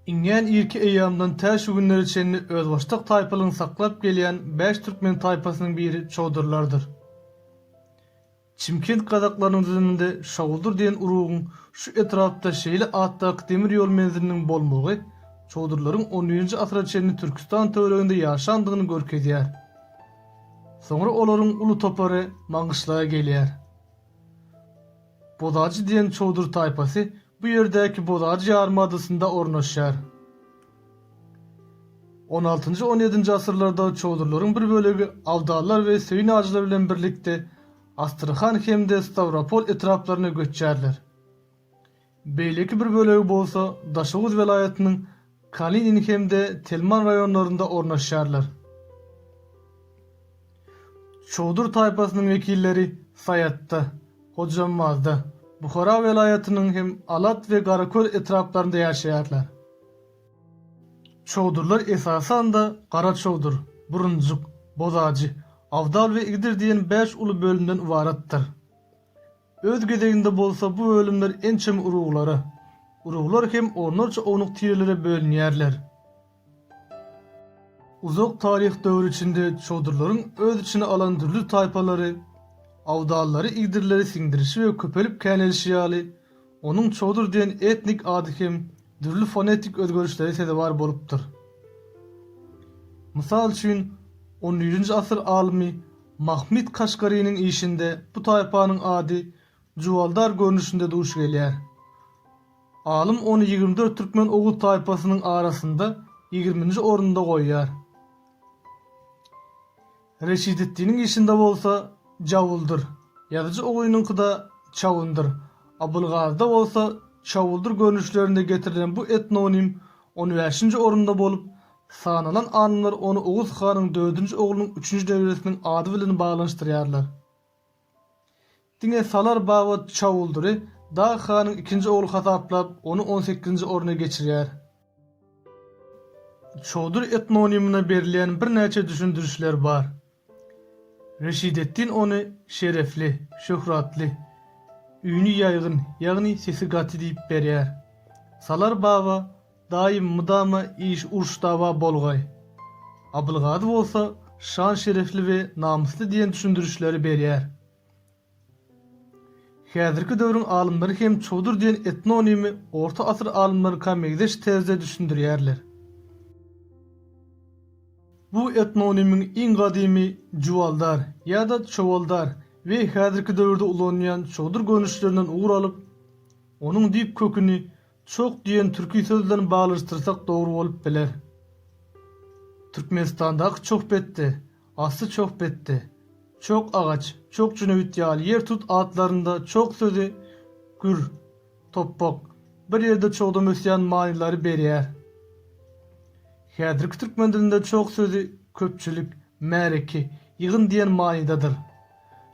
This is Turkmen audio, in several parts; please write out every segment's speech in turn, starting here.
Iňňän irki eýýamdan tä şu günlere çenli özbaşdak taýpalygyny saklap gelýän bäş türkmen taýpasynyň biri çowdurlardyr. Çimkent kazaklarynyň düzüminde Şawdur diýen urugyň şu etrapda şeýle atdaky demir ýol menziliniň bolmagy Çowdurlaryň on njy asyra çenli Türküstan töwereginde ýaşandygyny görkezýär. Soňra olaryň uly topary Maňgyşlaga gelýär. Bozajy diýen Çowdur taýpasy bu ýerdäki Bozajy ýarymadasynda ornaşýar. On altynjy, on ýedinji asyrlarda çowdurlaryň bir bölegi abdallar we söýün-ajylar bilen birlikde Astrahan hem-de Stawropol etraplaryna göçýärler. Beýleki bir bölegi bolsa Daşoguz welaýatynyň Kalinin hem-de Telman raýonlarynda ornaşýarlar. Çowdur taýpasynyň wekilleri Saýatda, Hojambazda, Buhara welaýatynyň hem Alat we Garaköl etraplarynda ýaşaýarlar. Çowdurlar esasan-da Garaçowdur, Burunjyk, Bozajy, Awdal we Igdir diýen bäş uly bölümden ybaratdyr. Öz gezeginde bolsa bu bölümler ençeme uruglara, uruglar hem onlarça ownuk tirelere bölünýärler. Uzak taryh döwri içinde çodurlaryň öz içine alan dürli taýpalary, awdallary igdirleri siňdirişi we köpelip känelişi ýaly, onuň çodur diýen etnik ady hem dürli fonetik özgerişlere sezewar bolupdyr. Mysal üçin, on nji asyr alymy Mahmyt Kaşgarynyň işinde bu taýpanyň ady Juwaldar görnüşinde duş gelýär. Alym ony ýigrimi dört türkmen oguz taýpasynyň arasynda ýigriminji orunda goýýar. Reşideddiniň işinde bolsa Jawuldyr, ýazyjy Oguynyňkyda Çawundyr, Abylgazyda bolsa Çawuldyr görnüşlerinde getirilen bu etnonim on bäşinji orunda bolup, Sanalan alymlar ony Oguz hanyň dördünji oglunyň üçünji nebresiniň ady bilen baglanyşdyrýarlar. Diňe Salar baba Çawuldyry Dag hanyň ikinji ogly hasaplap, ony on sekizinji orna geçirýär. Çowdur etnonimine berilýän birnäçe düşündirişler bar. Reşidetdin ony şerefli, şöhratly, üýni ýaýgyn, ýagny sesi gaty diýip berýär. Salar baba daýym mydama iş uruş-dawa bolgaý. Abylgazy bolsa şan-şerefli we namysly diýen düşündirişleri berýär. Häzirki döwrüň alymlary hem çowdur diýen etnonimi orta asyr alymlaryňka meňzeş terzde düşündirýärler. Bu etnonimiň iň gadymy Jubaldar ýa-da Çowaldar we häzirki döwürde ulanylýan çowdur görnüşlerinden ugur alyp, onuň düýp köküni Çoh diýen türki söz bilen baglaşdyrsak dogry bolup biler. Türkmenistandaky çohbetde, asly çohbetde, çoh agaç, çoh jüneýit ýaly ýer tut atlarynda çoh sözi gür, topbak, bir ýerde çogdam ösýän manylary berýär. Häzirki türkmen dilinde çoh sözi köpçülik, märeke, ýygyn diýen manydadyr.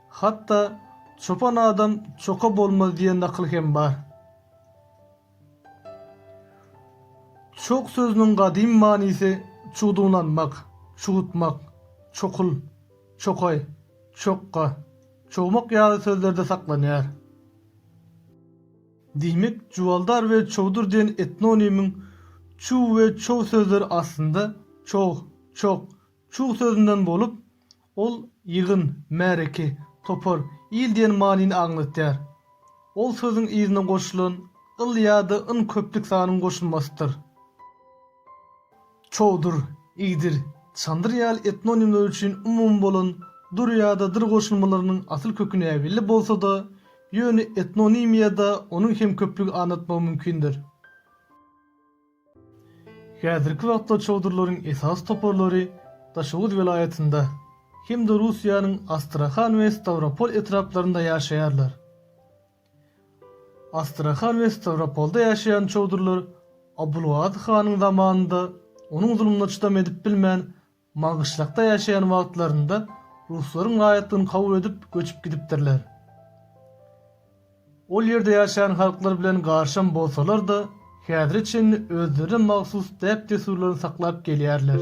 Hatda Çopan adam çoka bolmaz diýen nakyl hem bar. Çog sözüniň gadym manysy çugdunlanmak, çugutmak, çokul, çokaý, çokga, çogmak ýaly sözlerde saklanýar. Diýmek, Juwaldar we Çowdur diýen etnonimiň çuw we çow sözleri aslynda çog, çok, çug sözünden bolup, Ol ýygyn, märeke, topar, il diýen manyny aňladýar. Ol sözüň yzyna goşulan yl ýa-da yn köplük sanyň goşulmasydyr. Çowdur, igdir, çandyr ýaly etnonimler üçin umumy bolan dur ýa-da dyr goşulmalarynyň asyl köki näbelli bolsa-da, ýöne etnonimiýada onuň hem köplügi anlatmagy mümkindir. Häzirki wagtda çowdurlaryň esasy toparlary Daşoguz welaýatynda hem-de Russiýanyň Astrahan we Stawropol etraplarynda ýaşaýarlar. Astrahan we Stawropolda ýaşaýan çowdurlar Abulgazy hanyň zamanynda onuň zulumyna çydam edip bilmän, Maňgyşlakda ýaşaýan wagtlarynda ruslaryň raýatlygyny kabul edip göçüp gidipdirler. Ol ýerde ýaşaýan halklar bilen garşam bolsalar-da, häzire çenli özlerine mahsus däp-dessurlaryny saklap gelýärler.